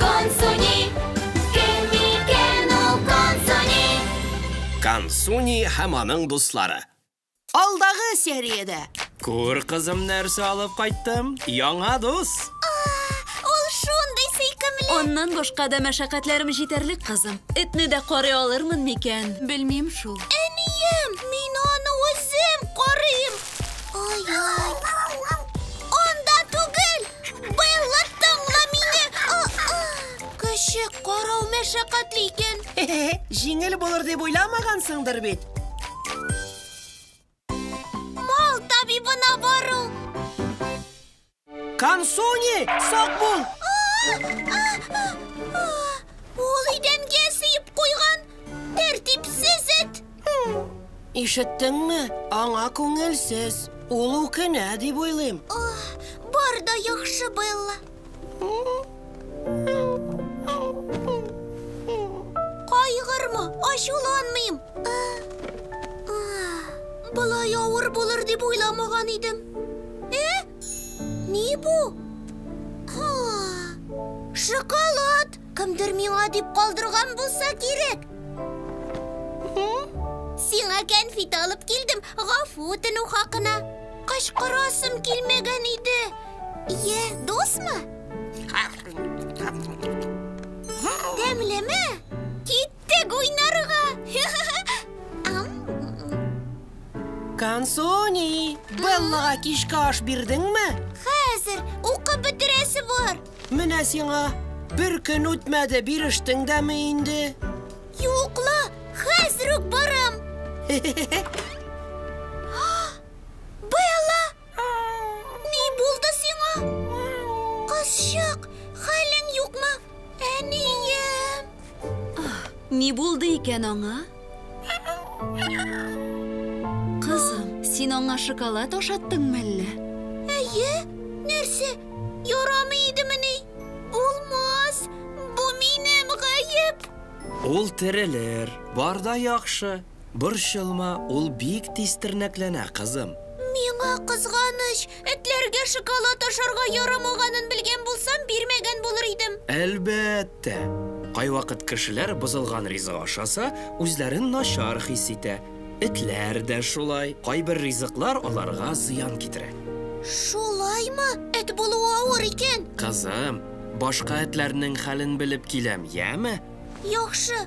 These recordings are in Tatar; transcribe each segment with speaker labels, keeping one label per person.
Speaker 1: Консуни, кем микән ул Консуни? Консуни һәм аның дуслары. Алдагы сериядә. Күр, кызым, нәрсә алып кайттым. Яңа дус. Ул шундый сөйкемле. Аннан башка да мәшәкатьләрем җитәрлек, кызым. Этне дә карый алырмын микән? Белмим шул. Әнием, мин аны үзем карыйм. Ай-яй. мәшәкатьле икән. Җиңел булыр дип уйламагансыңдыр бит. Мал табибына бару. Кансуни, сак бул. Ул идәнгә сыеп куйган тәртипсез эт. Ишеттеңме? Аңа күңелсез. Ул үкенә дип уйлыйм. Бар да яхшы, Белла. Кайгырма, ачуланмыйм. Болай авыр булыр дип уйламаган идем. Э? Ни бу? Ха! Шоколад! Кемдер миңа дип калдырган булса кирәк. Сиңа кәнфит алып килдем, гафу үтенү хакына. Кычкырасым килмәгән иде. Йә, дусмы? Тәмлеме? Кит Тек уйнарга! Кансони, Беллага кичке аш бирдеңме? Хәзер укып бетерәсе бар. Менә сиңа. Бер көн үтмәде, бирештең дәме инде. Юкла, хәзер үк барам. Белла, Ни булды сиңа? Кызчык, хәлең юкмы? Әнием. Ни булды икән аңа? Кызым, син аңа шоколад ашаттың мәллә? Әйе, нәрсә, ярамый идемени? Булмас, бу минем гаеп. Ул терелер, бар да яхшы. Борчылма, ул бик тиз тернәкләнә, кызым. Миңа кызганыч, этләргә шоколад ашарга ярамаганын белгән булсам, бирмәгән булыр идем. Әлбәттә! Кайвакыт кешеләр бозылган ризык ашаса, үзләрен начар хис итә. Этләр дә шулай, кайбер ризыклар аларга зыян китерә. Шулаймы? Эт булуы авыр икән. Кызым, башка этләрнең хәлен белеп киләм, яме? Яхшы.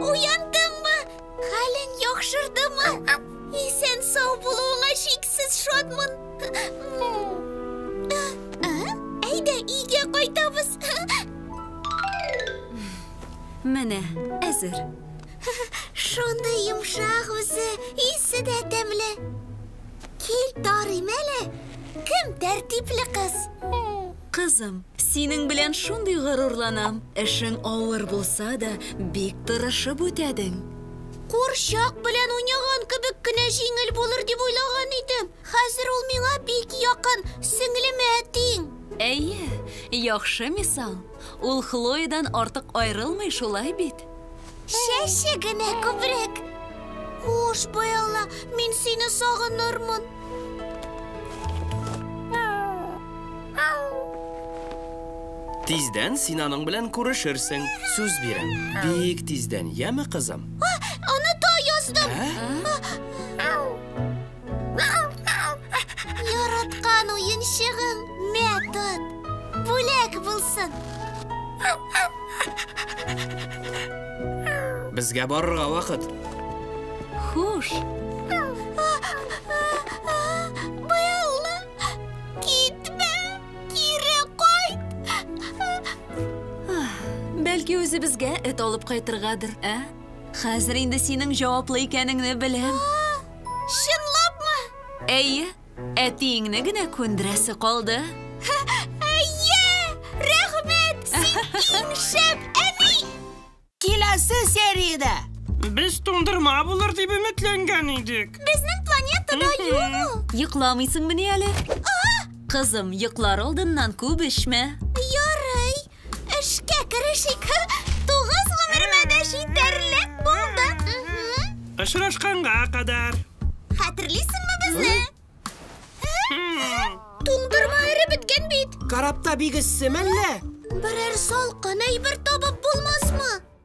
Speaker 1: Уяндыңмы? Хәлең яхшырдымы? Исән сау булуыңа шиксез шатмын. Әйдә, өйгә кайтабыз. Менә, әзер. Шундый йомшак үзе, исе дә тәмле. Кил, тарыйм әле. Кем тәртипле кыз? Кызым, синең белән шундый горурланам. Эшең авыр булса да, бик тырышып үтәдең. Курчак белән уйнаган кебек кенә җиңел булыр дип уйлаган идем. Хәзер ул миңа бик якын, сеңлеме әтиң? Әйе, яхшы мисал. Ул Хлоедан артык аерылмый, шулай бит? Чәче генә күбрәк. Хуш, Белла, мин сине сагынырмын. Тиздән син аның белән күрешерсең, сүз бирәм. Бик тиздән, яме, кызым? Оныта яздым. Ә? Яраткан уенчыгың мә тот. Бүләк булсын. Безгә барырга вакыт. Хуш. Белла, китмә, кире кайт. Бәлки үзебезгә эт алып кайтыргадыр, ә? Хәзер инде синең җаваплы икәнеңне беләм. Чынлапмы? Әйе, әтиеңне генә күндерәсе калды. Әйе! Рәхмәт! Син иң шәп әби! Киләсе сериядә! Без туңдырма булыр дип өметләнгән идек. Безнең планетада юк ул. Йокламыйсыңмыни әле? Кызым, йоклар алдыннан күп эчмә. Эшкә керешик. Тугыз гомеремә дә җитәрлек булды. Очрашканга кадәр. Хәтерлисеңме безне? Туңдырма эре беткән бит. Карапта бик эссе мәллә? Берәр салкын әйбер табып булмасмы?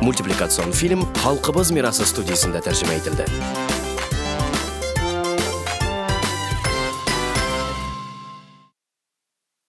Speaker 1: Мультипликацион фильм Халкыбыз мирасы студиясендә тәрҗемә ителде.